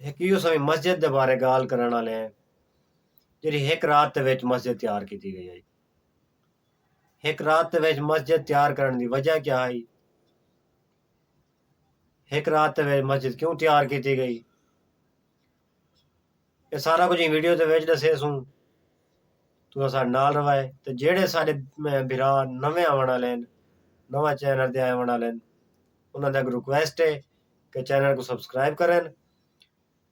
ہک ایہو سویں مسجد دے بارے گالھ کرݨ آلے ہیں جیڑھی ہک رات دے وچ مسجد تیار کیتی گئی ہائی ہک رات دے وچ مسجد تیار کرݨ دی وجہ کیا ہائی ہک رات دے وچ مسجد کیوں تیار کیتی گئی اے سارا کچھ ویڈیو دے وچ دسے سوں تو سارے نال روائے تے جیڑے سارے بھرا نویں آون والے ہیں نواں چینل دے آون والے ہیں انہاں دا ایک ریکویسٹ ہے کہ چینل کو سبسکرائب کرن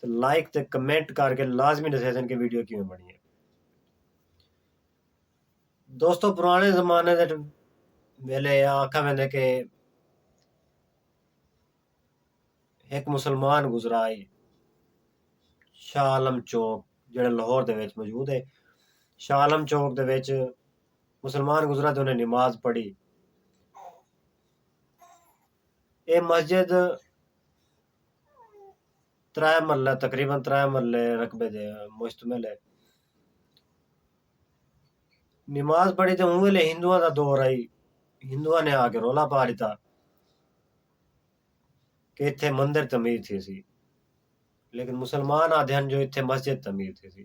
تے لائک تے کمنٹ کر کے لازمی دسیسن کہ ویڈیو کیویں بنی ہے دوستو پرانے زمانے دے ویلے آکھا ویندے کہ ایک مسلمان گزرا ہے شاہ عالم چوک جڑا لاہور دے وچ موجود ہے شاہ عالم چوک دے وچ مسلمان گزرا تے انہیں نماز پڑھی اے مسجد ترائے مرلے تقریبا ترائے مرلے رقبے تے مشتمل ہے۔ نماز پڑھی تے اوں ویلے ہندواں دا دور ہئی ہندواں نے آ کے رولا پا ݙتا کہ اتھے مندر تعمیر تھیسی لیکن مسلمان آکھدن جو اتھے مسجد تعمیر تھیسی۔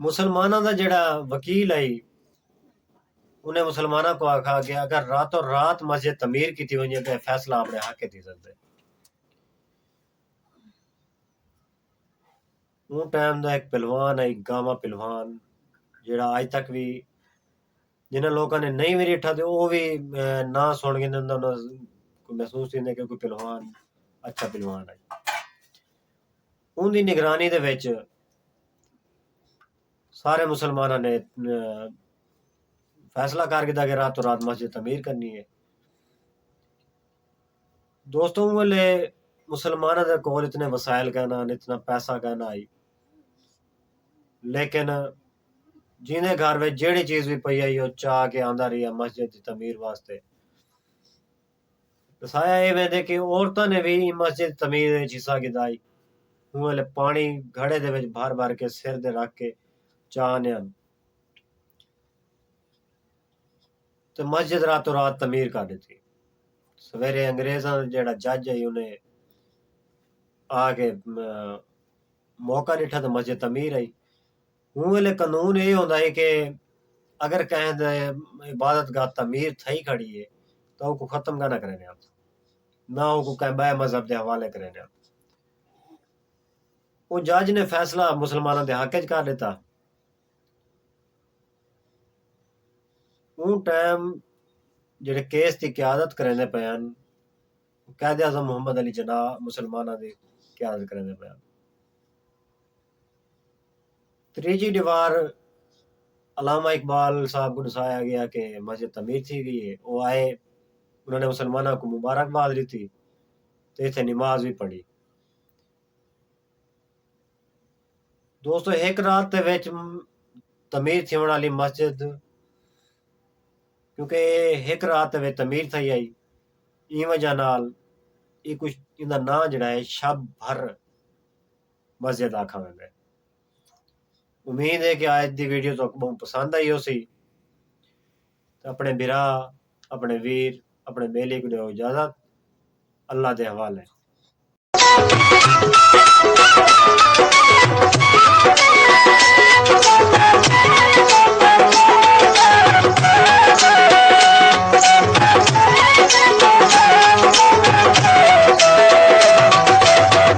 مسلماناں دا جیڑھا وکیل ہئی انہیں مسلماناں کو آکھا کہ اگر راتو رات مسجد تعمیر کیتی ونجے تے فیصلہ اپنے حق تھی سکدے اون ٹائم دا ایک پلوان ہے گاما پلوان جیڑا آج تک بھی جنہاں لوکاں نے نہیں بھی ریٹھا تے او بھی نا سن گے انہاں دا محسوس تھی کہ کوئی پلوان اچھا پلوان ہے اوں دی نگرانی دے وچ سارے مسلماناں نے فیصلہ کر گھدا کہ راتوں رات مسجد تعمیر کرنی ہے دوستوں اوں ویلے مسلماناں دے کول اتنے وسائل کہنا اتنا پیسہ کہنا آئی لیکن جیندے گھر وچ جیڑی چیز بھی پئی آئی وہ چاہ کے آندا رہیا مسجد دی تعمیر واسطے ڈسایا اے ویندے کہ عورتاں نے وی ایں مسجد تعمیر اچ حصہ گھدا ہئی۔ اوں ویلے پانڑی گھڑے دے وچ بھر بھر کے سر دے رکھ کے چا ہنے ہن تے مسجد راتوں رات تعمیر کر ڈتی۔ سویرے انگریزاں دا جیہڑا جج ہئی اوں نے آ کے موقع ڈٹھا تے مسجد تعمیر ہئی۔ اوں ویلے قنون ایہ ہوندا ہئی کہ اگر کہیں دے عبادت گاہ تعمیر تھئی کھڑی ہے تاں اوکوں ختم گاہ نہ کریندے ہن نہ اوکوں کہیں بئے مذہب دے حوالے کریندے ہن۔ اوں جج نے فیصلہ مسلماناں دے حق اچ کر ݙتا۔ اوں ٹائم جیہڑے کیس دی قیادت کریندے پئے ہن قائد اعظم محمد علی جناح مسلماناں دی قیادت کریندے پئے ہن۔ تریجھی دیوار علامہ اقبال صاحب کو دسایا گیا کہ مسجد تعمیر تھی گئی ہے وہ آئے انہوں نے مسلمانوں کو مبارکباد دیتی تو اتنے نماز بھی پڑھی دوستو ایک رات دے وچ تعمیر تھیون والی مسجد کیونکہ ایک رات دے وچ تعمیر تھئی آئی این وجہ نال یہ کچھ ان دا نام جڑا ہے شب بھر مسجد آکھا ویندے۔ امید ہے کہ آج دی ویڈیو تہاکوں بہوں پسند آئی ہوسی۔ اپنے بھرا اپنے ویر اپنے بیلی کو ڈیو اجازت اللہ دے حوالے۔